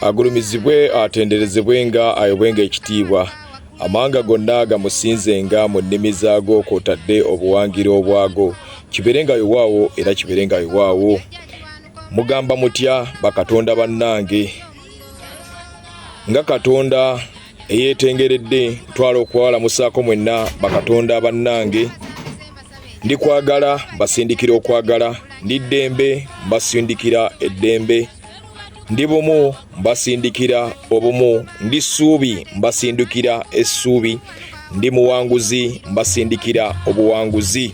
agulumizibwe atenderezebwe nga ayobwenga ekitiibwa amawanga gonna gamusinzenga mu nnimi zaago kwotadde obuwangiro obwago kibeere nga yowaawo era kibeere nga yowaawo mugamba mutya bakatonda bannange nga katonda eyeetengeredde ntwala okwalamusaako mwenna bakatonda bannange ndi kwagala mbasindikira okwagala ndi ddembe mbasindikira eddembe ndi bumu mbasindikira obumu ndi ssuubi mbasindikira essuubi ndi muwanguzi mbasindikira obuwanguzi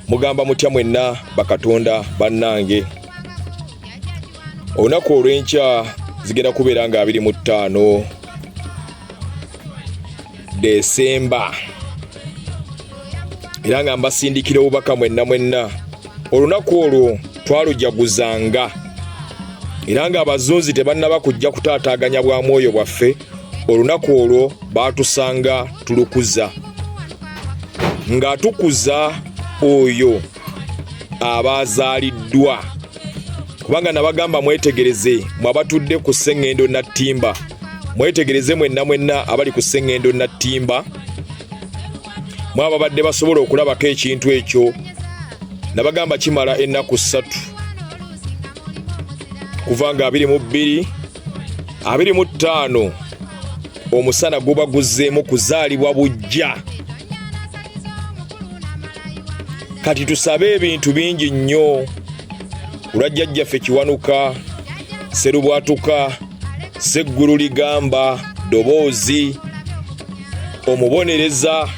mugamba mutya mwenna bakatonda bannange olunaku olw'enkya zigenda kubeera nga abiri mu ttaano desemba era nga mbasindikira obubaka mwenna mwenna olunaku olwo twalujaguzanga era nga abazunzi tebannaba kujja kutaataaganya bwa mwoyo bwaffe olunaku olwo baatusanga tulukuza nga tukuza oyo abaazaaliddwa kubanga nabagamba mwetegereze mwe abatudde ku sseŋŋendo nattimba mwetegereze mwenna mwenna abali ku sseŋŋendo nattimba mwe ababadde basobola okulabako ekintu ekyo nabagamba kimala ennaku ssatu kuva nga abiri mu bbiri abiri mu ttaano omusana guba guzzeemu kuzaalibwa bujja kati tusabe ebintu bingi nnyo kulwa jjajjaffe kiwanuka serubwatuka seggulu ligamba doboozi omubonereza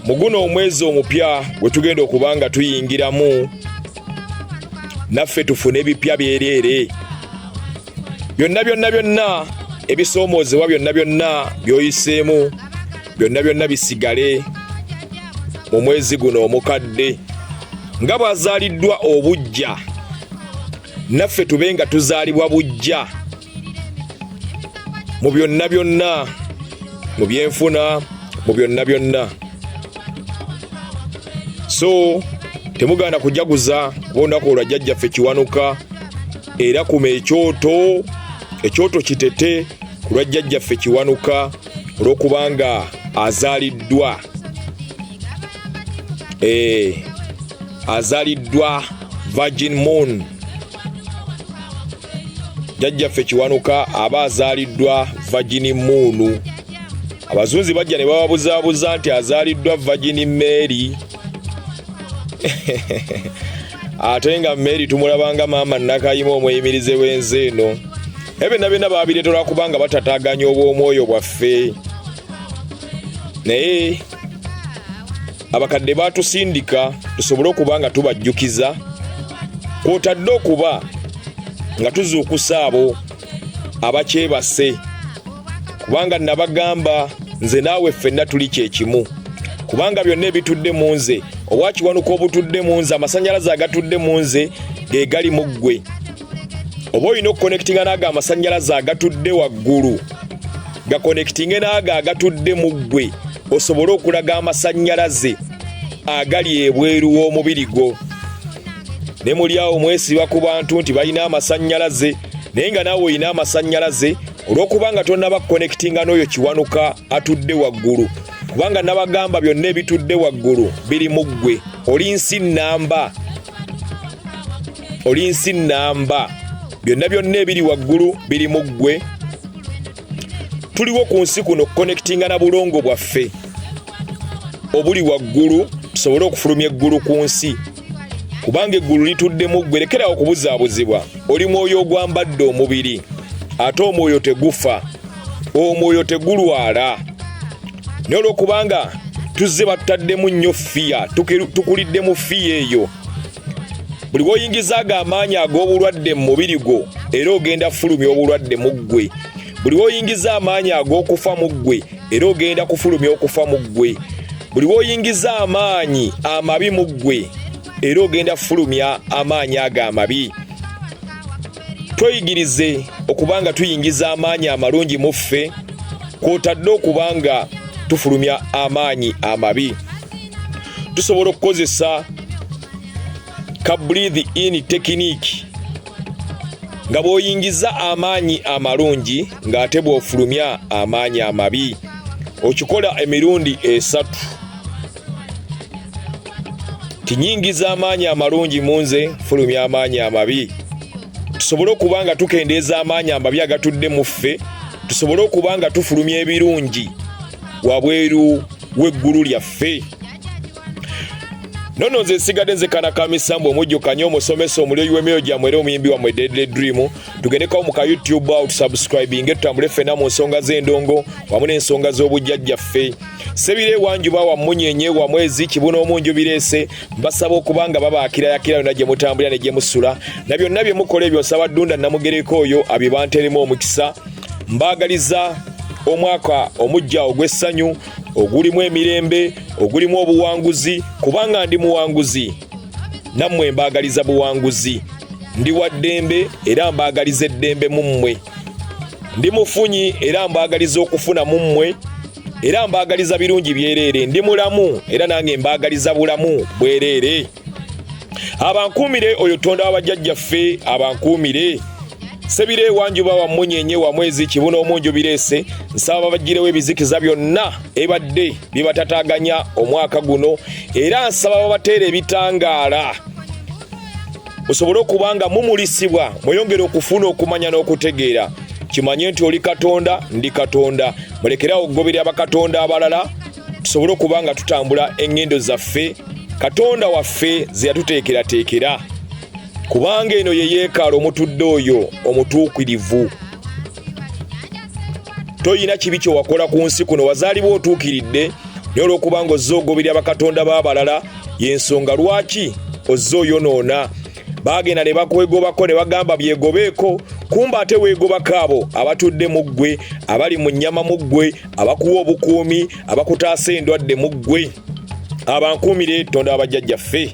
mu guno omwezi omupya gwe tugenda okuba nga tuyingiramu naffe tufune ebipya byereere byonna byonna byonna ebisoomoozebwa byonna byonna byoyiseemu byonna byonna bisigale mu mwezi guno omukadde nga bwazaaliddwa obujja naffe tube nga tuzaalibwa bujja mu byonna byonna mu byenfuna mu byonna byonna so temugaana kujaguza kuba olunaku olwa jjajjaffe kiwanuka era kuma ekyoto ekyoto kitete ku lwa jjajjaffe kiwanuka olwokubanga azaliddwa eh, azaliddwa virgin moon jajjaffe kiwanuka aba azaliddwa virgin moon abazunzi bajja ne bababuzaabuza nti azaliddwa virgin mary ate nga mary tumulabanga maama nakayima omuyimirize w'enze eno naye byonna byonna babireeta olwakubanga batataganya obw'omwoyo bwaffe naye abakadde batusindika tusobole okuba nga tubajjukiza kwotadde okuba nga tuzuukusa abo abakyebase kubanga nabagamba nze naawe ffenna tuli kyekimu kubanga byonna ebitudde mu nze owakiwanuka obutudde mu nze amasanyalaze agatudde mu nze ge gali mu ggwe oba olina okukonekitinga naago amasanyalaze agatudde waggulu gakonekitinge naago agatudde mu ggwe osobole okulaga amasanyalaze agali ebweru w'omubiri gwo ne muli awo mwesiba ku bantu nti balina amasanyalaze naye nga naawe olina amasannyalaze olw'okuba nga tonaba kukonekitinga n'oyo kiwanuka atudde waggulu kubanga nabagamba byonna ebitudde waggulu biri mu ggwe oli nsi nnamba oli nsi nnamba byonna byonna ebiri waggulu biri mu ggwe tuliwo ku nsi kuno okukonekitinga na bulongo bwaffe obuli waggulu tusobole okufulumya eggulu ku nsi kubanga eggulu lituddemu ggwe lekerawo okubuzaabuzibwa oli mwoyo ogwambadde omubiri ate omwoyo tegufa omwoyo tegulwala naye olwokubanga tuzze batutaddemu nnyo fiya tukuliddemu fiya eyo buli woyingizaago amaanyi ag'obulwadde mu mubiri gwo era ogenda fulumya obulwadde mu ggwe buli woyingiza amaanyi ag'okufa mu ggwe era ogenda kufulumya okufa mu ggwe buli woyingiza amaanyi amabi mu ggwe era ogenda kufulumya amaanyi ago amabi tweyigirize okuba nga tuyingiza amaanyi amalungi mu ffe kwotadde okuba nga tufulumya amaanyi amabi tusobola okukozesa ka breathe in technique nga bw'oyingiza amaanyi amalungi ng'ate bw'ofulumya amaanyi amabi okikola emirundi esatu tinyingiza amaanyi amalungi mu nze fulumya amaanyi amabi tusobole okuba nga tukendeeza amaanyi amabi agatudde mu ffe tusobole okuba nga tufulumya ebirungi wabweru w'eggulu lyaffe nono nze nsigadde nze kana ka misambu omujjukanye omusomesa omulyoyi w'emyoyo gyammwe era omuyimbi wammwe deadly dream tugendekawo mu ka youtube awo tusubscribinge tutambule ffena mu nsonga z'endongo wamu n'ensonga z'obujjajjaffe sebire ewanjuba wammunyenye wamwezi kibuna omunju bireese mbasaba okuba nga babaakirayakira yonna gye mutambulira ne gye musula na byonna bye mukola ebyo nsaba ddunda namugereko oyo abibanteremu omukisa mbaagaliza omwaka omujja ogw'essanyu ogulimu emirembe ogulimu obuwanguzi kubanga ndi muwanguzi nammwe mbaagaliza buwanguzi ndi wa ddembe era mbaagaliza eddembe mu mmwe ndi mufunyi era mbaagaliza okufuna mu mmwe era mbaagaliza birungi byereere ndi mulamu era nange mbaagaliza bulamu bwereere abankuumire oyo tonda wa bajjajjaffe abankuumire sebira ewanjuba wa munyenye wa mwezi kibuna omunju bireese nsaba babagirewo ebizikiza byonna ebadde bibatataganya omwaka guno era nsaba babateera ebitangaala musobole okuba nga mumulisibwa mweyongere okufuna okumanya n'okutegeera kimanye nti oli katonda ndi katonda mulekerawo okugoberera bakatonda abalala tusobole okuba nga tutambula eŋŋendo zaffe katonda waffe ze yatuteekerateekera kubanga eno ye yeekaala omutudde oyo omutuukirivu toyina kibi kye wakola ku nsi kuno wazaalibwa otuukiridde naye olw'okubanga ozze ogoberera bakatonda b'abalala y'ensonga lwaki ozze oyonoona baagenda ne bakwegobako ne bagamba byegobeeko kumba ate weegobako abo abatudde mu ggwe abali mu nnyama mu ggwe abakuwa obukuumi abakutaasa endwadde mu ggwe abankuumire tonda abajjajjaffe